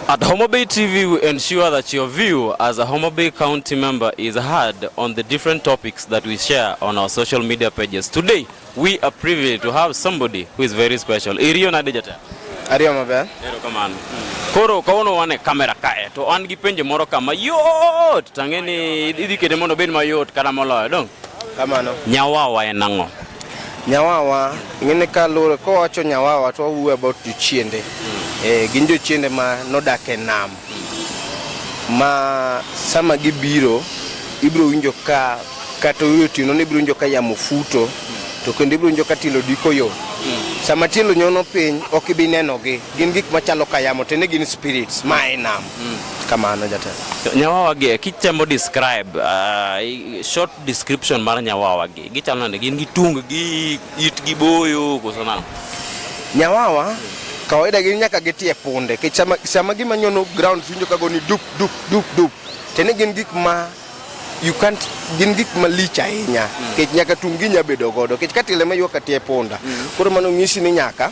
At Homa Bay TV, we ensure that your view as a Homa Bay County member is heard on the different topics that we share on our social media pages. Today, we are privileged to have somebody who is very special. Irio Nadejata. Ario maber. Ero kamano. Koro kawuono wan e kamera kae to an gi penjo moro kama yot tang'e ni idhi kete mondo obed mayot kata moloyo dong. Kamano. Nyawawa en ang'o? Nyawawa ng'ene ka lure kowacho nyawawa to wawuo about jochiende. Mm. Eh, gin jochiende ma nodak e nam. Mm. Ma sama gibiro ibiro winjo ka kata otieno ni ibiro winjo ka yamo futo to kendo ibiro winjo ka tielo diko yo. Mm. Sama tielo nyono piny ok ibi nenogi. Gin gik machalo ka yamo to ne gin spirits ma e nam. Mm. Kamano jatelo. Nyawawa gi kitemo describe uh, short description mar nyawawa gi gichalo nade gin gi tung gi it gi boyo koso nang. Nyawawa kawaida gin nyaka gitie punde kech sama, sama gima nyono ground winjo kago ni dup dup dup dup tene gin gik ma you can't gin gik malich ahinya mm. kech nyaka tung gi nya bedo godo kech katile ma ywak atie punda mm. koro mano ng'isi ni nyaka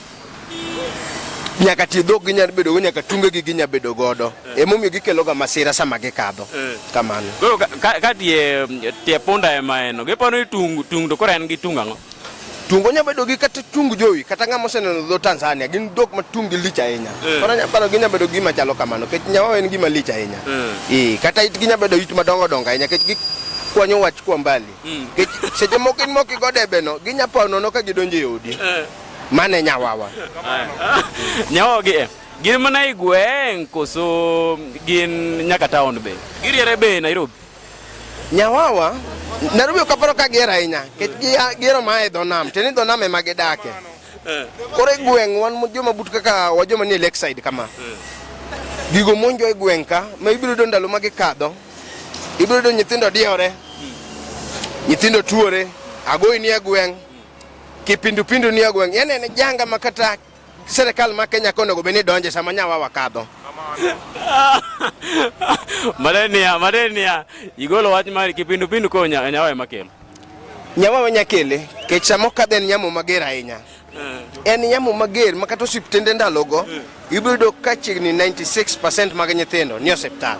nyaka tie dhok gi nyalo bedo go nyaka tunge gi ginya bedo godo eh. emomiyo gikelo ga masira sama gikadho eh. kamano koro ka tie tie punda ema eno giparo ni tung tung to koro en gi tung ang'o tungo nya bedo gi kata tung jowi kata ng'ama oseneno dho Tanzania gin dhok ma tung gi lich ahinya eh. koro nya paro ginya bedo gima chalo kamano kech nyawa en gima lich ahinya eh kata it ginya bedo it madongo dongo ahinya kech gi kwanyo wach kwa mbali mm. kech seche moko in moko igo debeno ginya pao nono ka gidonjo e odi Mane nyawawa. Nyawawa gi eh, gin mana e gweng' koso gin nyaka taon be? Giriere be Nairobi? Nyawawa Nairobi ok aparo ka gier ahinya nikech giero ma e dho nam to ni dho nam ema gidake. Eh. Koro e gweng' wan joma but kaka wa joma nie lakeside kama. Eh. Gigo monjo e gweng' ka ma ibiro yudo ndalo ma gikadho. Ibiro yudo nyithindo diore. Hmm. Nyithindo tuore. Agoyi ni e gweng'. Kipindupindu ni ogweng' yani en janga ma kata serikal ma Kenya kono go bene donje sama nyawa wakadho. Malenia, malenia. Igolo wach mar kipindupindu ko nyawa ema kelo. Nyawa wanya kele kech sama okadhe en nyamo mager ahinya. Eh. En nyamo mager ma kata osiptende ndalogo eh. ibiro yudo ka chiegni 96% mag nyithindo ni osiptal.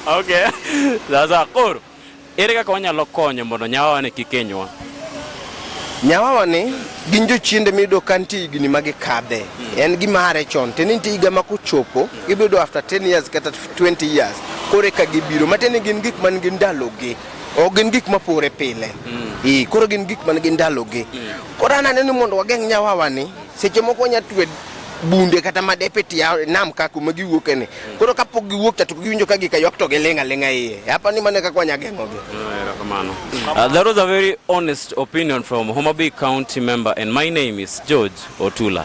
Okay. Sasa koro Ere kaka wanyalo konyo mondo nyawawani kik hinywa? Nyawawani gin jochiende miyudo ka nitie higni ma gikadhe hmm. en gimare chon tiende nitie higa ma kochopo gibiro after 10 years kata 20 years koro eka gibiro matiende gin gik man gi ndalogi ok gin gik mapore pile hmm. koro gin gik man gi ndalogi hmm. koro ananeno mondo wageng' nyawawani Seche moko wanya twe bunde kata madepe tia nam ka kuma giwuok ene. Koro kapok giwuok cha to giwinjo ka gikayok to gilinga linga iye. Hapa ni mane kaka wanya geng'o gi. Uh, that was a very honest opinion from Homabay County member and my name is George Otula.